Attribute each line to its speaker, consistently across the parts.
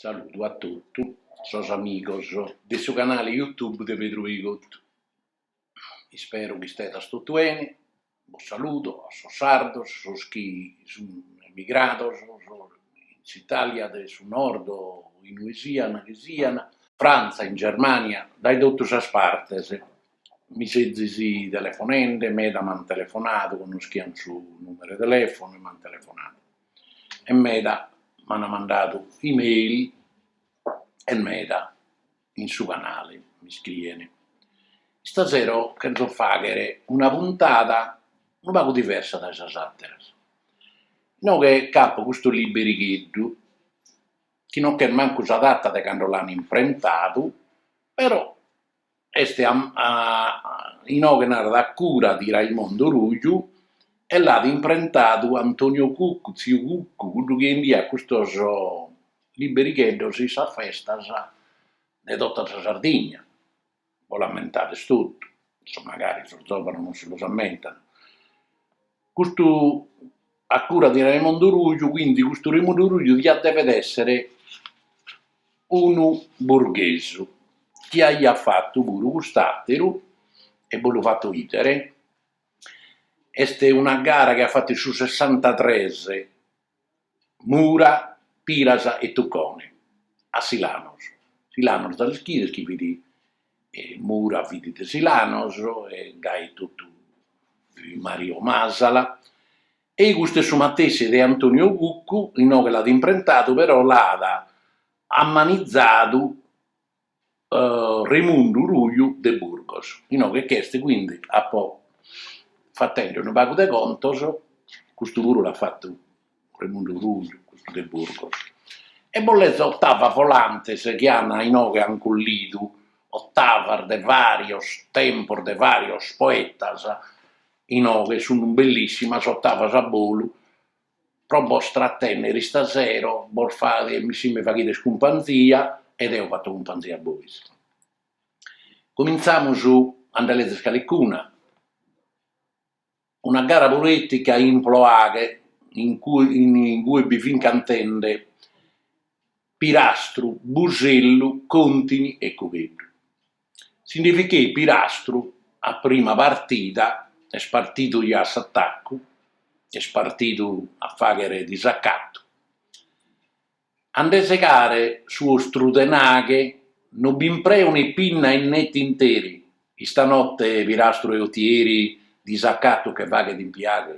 Speaker 1: Saludu a totu sos amigos de su canale YouTube de Pedru Pigottu, ispero chi istedas totu 'ene, bos saludo a sos sardos, sos chi sun emigrados in s'Italia de su Nord o in ue sian chi sian, Frantza, in Germania, dae totu sas partes, Mi sezis telefonende, meda m'ant telefonadu, connoschiant su nùmeru 'e telefonu e m'ant telefonadu e meda m'ant mandadu email e meda in su canale mi scrien. Istasero cherzo fàghere una puntada unu pagu diversa dae sas àteras, inoghe nc'apo custu liberigheddu chi no ch'est mancu sa data de cando l'ant imprentadu però est a inoghe narat a cura di Raimondo Ruju e l'at imprentadu Antonio Cuccu, tziu Cuccu, cuddu chi 'endiat custos liberigheddos in sas festas de tota sa Sardigna, bos l'amentades totu, magari sos zovanos non si l'amentant Custu a cura di Raimondo Ruju, quindi custu Raimundu Ruju diat dever èssere unu burghesu, chi aiat fatu puru cust'àteru, e bos lu fato ìdere, est una gara chi at fatu in su sessantatres Mura, Piras e Tucone, a Silanos. Silanos ja l'ischides chi fit, Mura fit de Silanos e gai totu fit Mario Masala, e custu est su matessi de Antonio Cuccu, inoghe chi l'at imprentadu però l'at amanizadu Remundu Ruju de Burgos, inoghe ch'est quindi, apo fatende unu pagu de contos, custu puru l'at fatu Remundu Ruju de Burgos, e bos lezo ottavas volantes chi an inoghe an collidu ottavas de varios tempos de varios poetas, inoghe sun bellissimas ottavas a bolu pro bos tratennere istasero bos faghes si mi faghides cumpanzia e deo fatto cumpanzia a bois. Cominzamus a nde lezere calicuna, una gara poetica in Ploaghe in cui in cui bi fin cantende Pirastru, Busellu, Contini e Cugheddu. Si nde ficheit Pirastru a prima partida, est partidu giai a s'atacu, est partidu a fàghere disacatu, a nde segare su ostru tenaghe, no bi impreo ne pinna e ne tinteri, istanotte Pirastru de Utieri disacatu che faghet in Piaghe,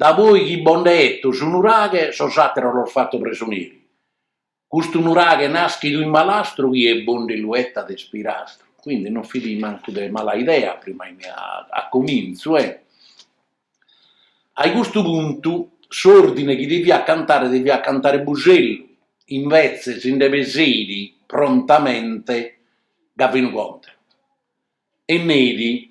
Speaker 1: da poi chi bo nd'eto su nuraghe sos àteros los fato presoneri, Custu nuraghe nàschidu in malastru chie bo nde lu 'etat est Pirastru, quindi non fit mancu de mala idea, prima a comintzu, e. Ai custu puntu s'ordine chi deviat cantare deviat cantare Busellu, invetze si nde peseit prontamente Gavinu Contene e neit,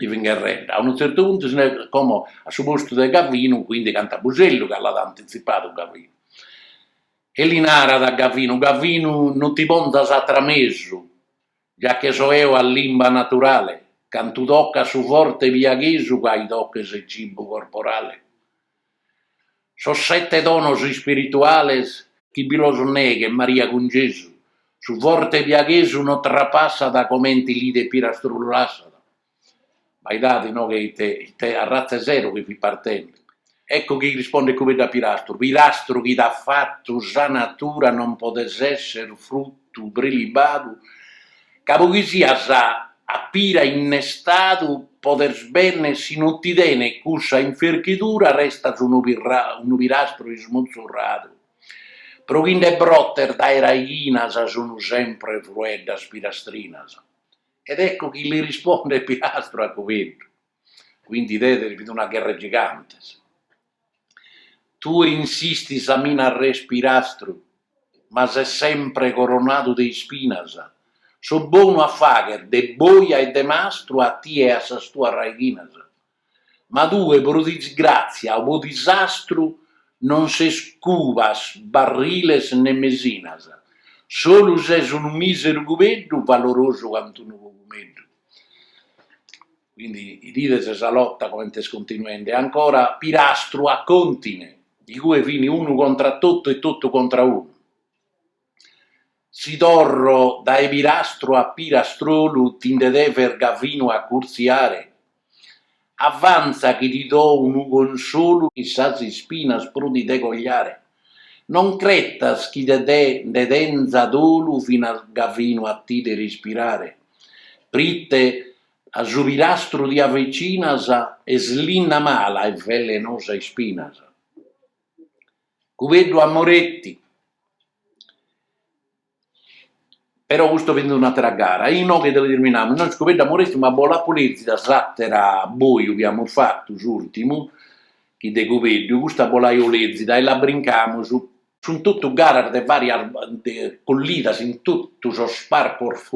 Speaker 1: chi fin gherrende. A unu tzertu puntu si naraiat como a su postu de Gavinu, quindi cantat Busellu, ca l'at antitzipadu Gavinu. E li narat a Gavinu, Gavinu non ti pontas a tramesu, già che so eo a limba naturale, cantu tocas su forte piaghesu ca aidocas e cibu corporale. Sos sete donos ispirituales chi bi los neghet Maria cun Gesù, su forte piaghesu no trapassat comente l'idet Pirastru lu lassat, abbaidade inoghe ite ite arratza 'e sero chi fit partende. Ecco chi rispondet Cubeddu a Pirastru, Pirastru chi t'at fattu sa natura non podes esser fruttu prelibadu ca po chi sias a pira innestadu podes benner si no ti tenet cussa inferchidura restas unu pira unu pirastru ismutzurradu pro chi nde brotes dae raighinas sun sempre frueddas pirastrinas ed ecco chi li rispondet Pirastru a Cubeddu quindi idides fit una gherra 'e gigantes. Tue insistis a mi nàrrer pirastru, ma ses sempre coronadu de ispinas. So bonu a fagher de boja e de mastru a tie e a sas tuas raighinas, ma tue pro disgràtzia o pro disastru non ses cubas, barriles ne mesinas, solu ses unu mìseru cubeddu valorosu cant'unu cogumeddu. Quindi idides sa lotta comente est continuende ancora Pirastru a Contine, igue fini unu contra totu e totu contra unu. Si torro dae Pirastru a pirastrolu ti nde deves Gavinu acurtziare? Avanza chi ti do unu consolu chi sas ispinas prus ti de cogliare. Non cretas chi de te nde tenza dolu finas Gavinu a t'ider ispirare. Prite A su pilastru ti avicinas est linna mala e velenosa ispinas. Cubeddu Amoretti, però custu fit un'atera gara, inoghe deu terminamus, inoghe Cubeddu Amoretti ma bo l'apo lezida s'atera boju chi amus fatu s'urtimu chi de Cubeddu, custa bo l'aio lezida e la brincamus Sunt totu garas de vàrias collidas in totu sos parcos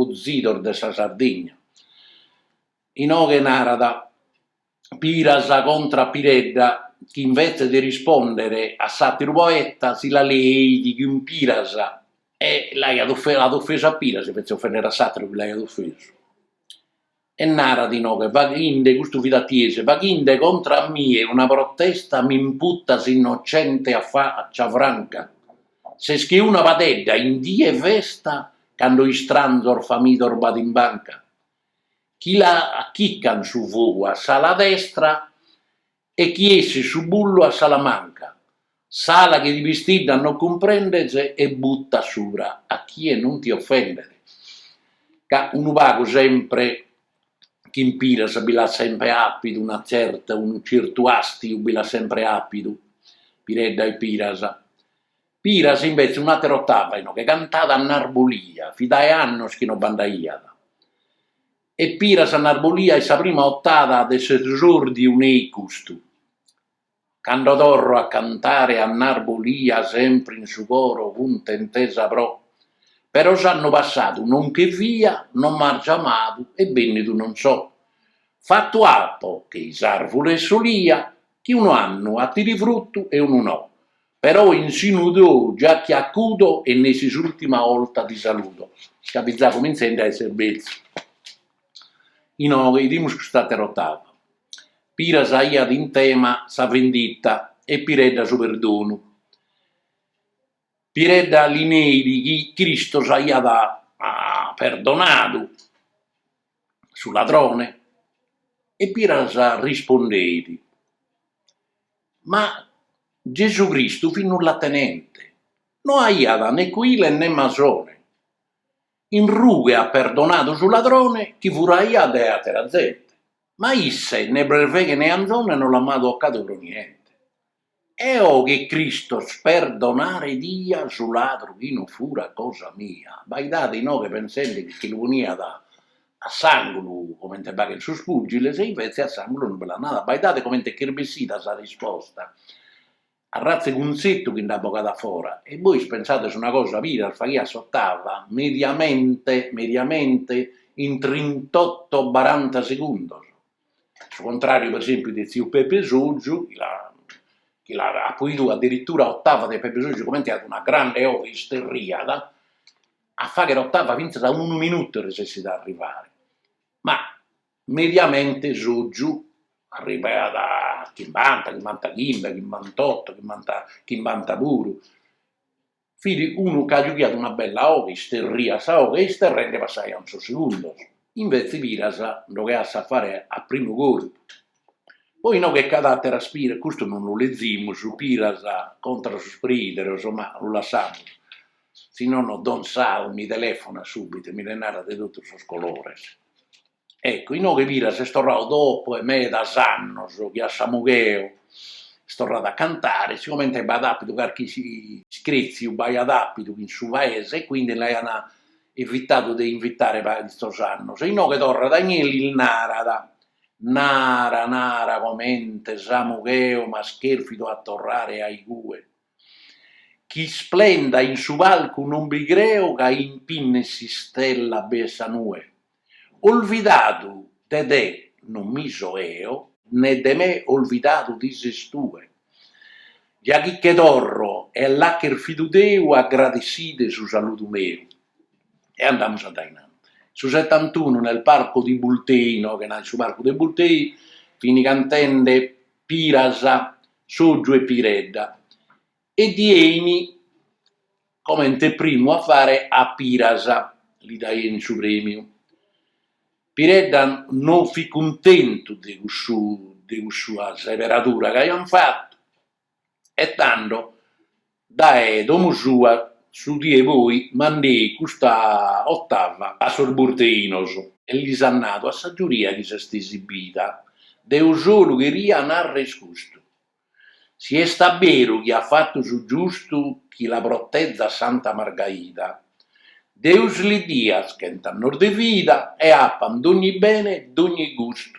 Speaker 1: de sa Sardigna. Inoghe narat piras contra a Piredda chi invetze de rispòndere a s'àteru poeta si la leit cun piras e l'aiat ofesu a piras invetze de ofènnere a s'àteru chi l'aiat ofesu. E narat inoghe, faghinde, custu fit a Tiesi, faghinde contra a mie una protesta m'imputas innocente a faccia franca. Ses che una padedda in die 'e festa cando istranzos famidos b'at in banca. Chi l'acchican su fogu a s'ala destra E chi essit su bullu a s'ala manca, s'ala chi ti pistiddat no cumprendes e buttas subra a chie non ti ofendes. Ca unu pagu sempre chin Piras bi l'at sempre àpidu una tzerta, unu tzertu àstiu bi l'at sempre àpidu, Piredda e Piras. Piras imbetzes un'àtera otàva inoche cantat a Narbulia, fit dae annos chi no b'andaiat. E Piras a narbolia e sa prima ottava de s'esordiu neit custu. Cando torro a cantare a narbolia sempre in su coro cuntentesa pro Però s'annu passadu non che fia, non m'an giamadu e bennidu non so. Fattu appo che sas arvures solia chi unu annu 'attire fruttu e unu no. Però in sinu tou giachi acudo e nessi s'ultima 'olta ti saludo, ca fit ja cuminzende a esser betzu. Inoghe idimus cust'atera ottava. Piras aiat in tema sa venditta e Piredda su perdonu. Piredda li neit chi Cristos aiat perdonadu. su ladrone e Piras rispondeit, Ma Gesù Cristu fit nullatenente, no aiat ne cuile ne masone, in rughe at perdonadu su ladrone chi furaiat de atera zente, ma a isse ne berveghe ne anzone no l'an mai tocadu pro niente. Eo che Cristos perdonare dia su ladru chi no fura cosa mia, abbaidade inoghe pensende chi lu poniat a s'angulu comente faghen sos pugiles e invece a s'angulu non bi l'at nada, abbaidade comente ch'est bessida sa risposta, arrazza 'e cunzettu chi nd'at bogadu a fora, e bois pensades una cosa, Piras faghiat s'ottava mediamente mediamente in trintotto baranta segundos. Su contrariu per esempiu de tziu Pepe Soggiu chi l'at chi l'apo idu addirittura ottava de Pepe Soggiu comente aiat una grande oghe isterriat a fagher ottava finzas a unu minutu resessit a arrivare, ma mediamente Soggiu arrivaiat a chimbanta, chimbantachimbe, chimbantotto, chimbanta chimbanta puru Fit unu ca giughiat una bella oghe, isterriat sa oghe e isterrende passaiant sos segundos. Invètzi Piras nde ogheat s'afare a primu corpu. Poi inoghe ch'at àteras Piras, custu non lu lezimus, Piras contra sos preìderos, ma lu lassamus, si nono Don Sau mi telefonat subbitu e mi nde narat de totu sos colores. Eccu, inoghe Piras est torrau dopu 'e medas annos chi a Samugheo est torradu a cantare, sigomente b'aiat apidu carchi iscrètziu b'aiat apidu in su paese e quindi l'aian evitadu de invitare paritzos annos e inoghe torrat a inie e lis narat, nara nara comente Samugheo m'as chèrfidu a torrare a igue Chi isplenda in su palcu non bi creo ca impinna 'e s'istella b'est sa nue Olvidadu de te non mi so 'eo ne de me olvidadu ti ses tue Già chi che torro e l'at cherfidu Deu agradesside su saludu meu E andamus a dae innantis Su settantunu nel parco di Bultei, inoghe nat in su parcu de Bultei, fini cantende Piras, Soggiu e Piredda, e diein comente primu a fare a Piras, li daein su premiu. Piredda non fit cuntentu de cussu de cussa seberadura chi aian fatu e tando Dae domu sua su die e poi mandei custa ottava a sos burteinos. E lis at nadu, a sa giuria chi s'est esibida, deo solu cheria narrer custu, si est a beru chi at fattu su giustu chi la protezat Santa Margaida, Deus li diat chent' annos de vida e appan dogni bene e dogni gustu,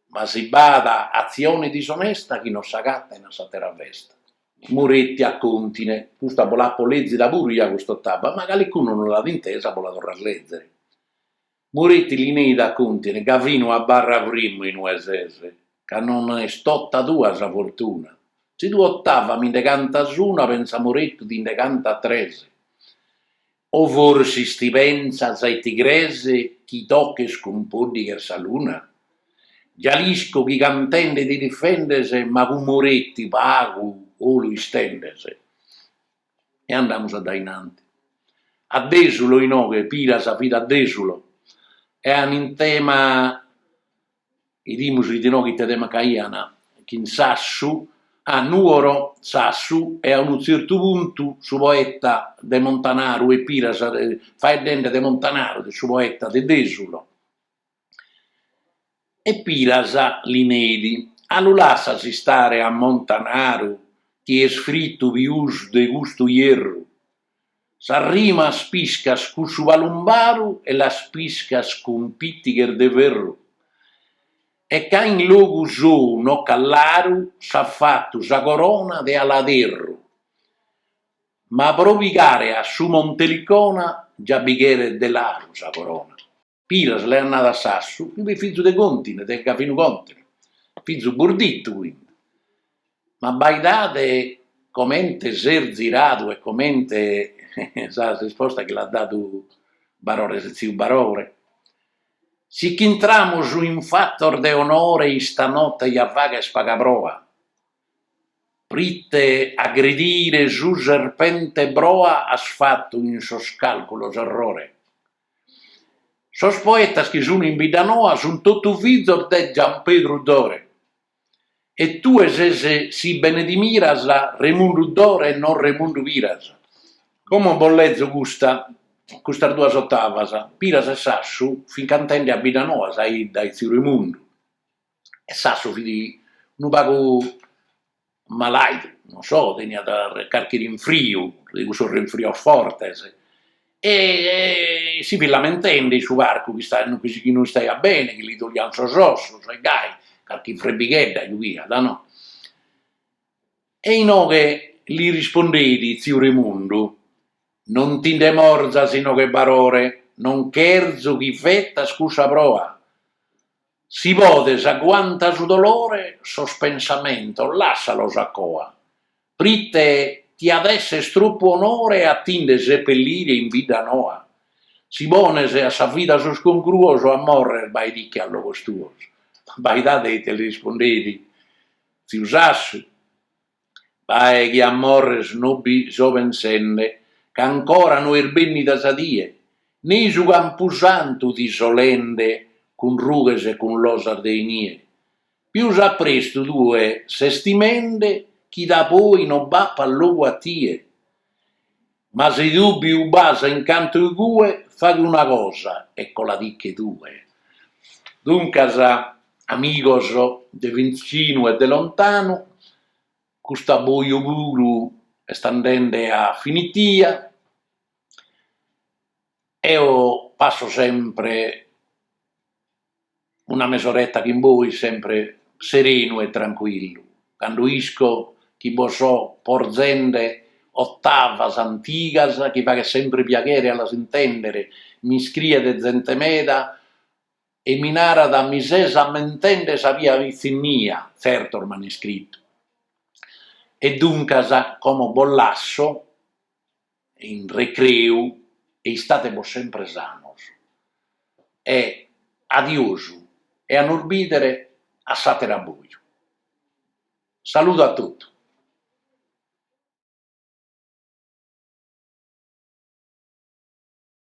Speaker 1: ma si b'at atzione disonesta chi no s'agattan a s'attera festa. Muretti a Contine, custa bo l'apo lèzida puru ia custa otaba, ma calicunu non l'at intesa bo la torras lèzere. Muretti li neit a Contine ca fin una barra frimmu in ue ses, ca non est tota tua sa fortuna. Si tue otava mi nde cantas una, pensa Muretti ti nde canta tres. O forsis ti pentzas e ti crees chi toches cun pòddighes sa luna? Già l'isco chi cantende ti difendes ma cun Moretti pagu 'olu istendes. E andamus a dae in anti. A Desulo inoghe Piras fit a Desulo e an in tema Idimus chi inoghe ite tema ch'aian chin Sassu, a Nuoro, Sassu e a unu tzertu puntu su poeta de Montanaru e Piras de, faeddende de Montanaru, de su poeta de Desulo, e Piras li neit, a lu lassas istare a Montanaru chi est fritu pius de custu ierru? Sas rimas piscas cun su palumbaru e las piscas cun pìtighes de ferru, e ca in logu sou no ch'at laru s'at fatu sa corona de aladerru, ma pro pigare a su Monte Elicona già bi cheret de laru sa corona. Piras l'aiat nadu a Sassu, chi fit fizu de Contine, de Gavinu Contine, fizu burdittu quindi, ma baidade comente s'est ziradu e comente sa risposta chi l'at dadu Barore, tziu Barore, si ch'intramus in fatos de onore istanotte ja faghes paga proa, prite aggredire su serpente boa as fatu in sos calculos errore. Sos poetas chi sun in Biddanoa sun totu fizos de Giampedru Dore, e tue ses si bene ti miras Remundu Dore e non Remundu Piras. Como bos lezo custa, custas duas ottavas, Piras e Sassu fin cantende a Biddanoa sa 'idda 'e tziu Remundu. e Sassu fit unu pagu malaidu, non so, teniat carchi rinfriu, de cussus rinfrios fortes, e si fit lamentende in su parcu chi chi no istaiat bene, chi li doliant sos ossos e gai carchi frebbighedda ddu fiat no, e inoghe li rispondeit tziu Remundu, non ti nde morzas inoghe Barore, non cherzo chi fetas cussa proa, Si podes aguanta su dolore sos pensamentos lassalos a coa, prite ti at esser troppu onore a ti nde sepellire in Biddanoa? Si pones a sa vida sos concruos a morrer baediche a logos tuos. Baidade ite li rispondeit tziu Sassu, Bae chi a morrer no bi so pensende, ch'ancora no est bennida sa die, ne i su campusantu ti so lende cun rughes e cun losas de inie. Pius a prestu tue ses timende chi da poi no b'apat logu a tie. Ma si dùbiu b'as in canto igue, faghe una cosa e coladiche tue. Duncas, amigos de vitzinu e de lontanu, cust'abboju puru est andende a finitia, eo passo sempre una mesoretta chin bois sempre serenu e trancuillu, candu isco chi bos so porzende ottavas antigas chi faghent sempre piaghere a las intèndere, mi scriet zente meda e mi narat mi ses ammentende sa mia pitzinnia, tzertos m'ant iscritu, e duncas como bos lasso in recreu e istate·mi sempre sanos e adios e a nos bidere a s'àter'abboju. Saludu a totu.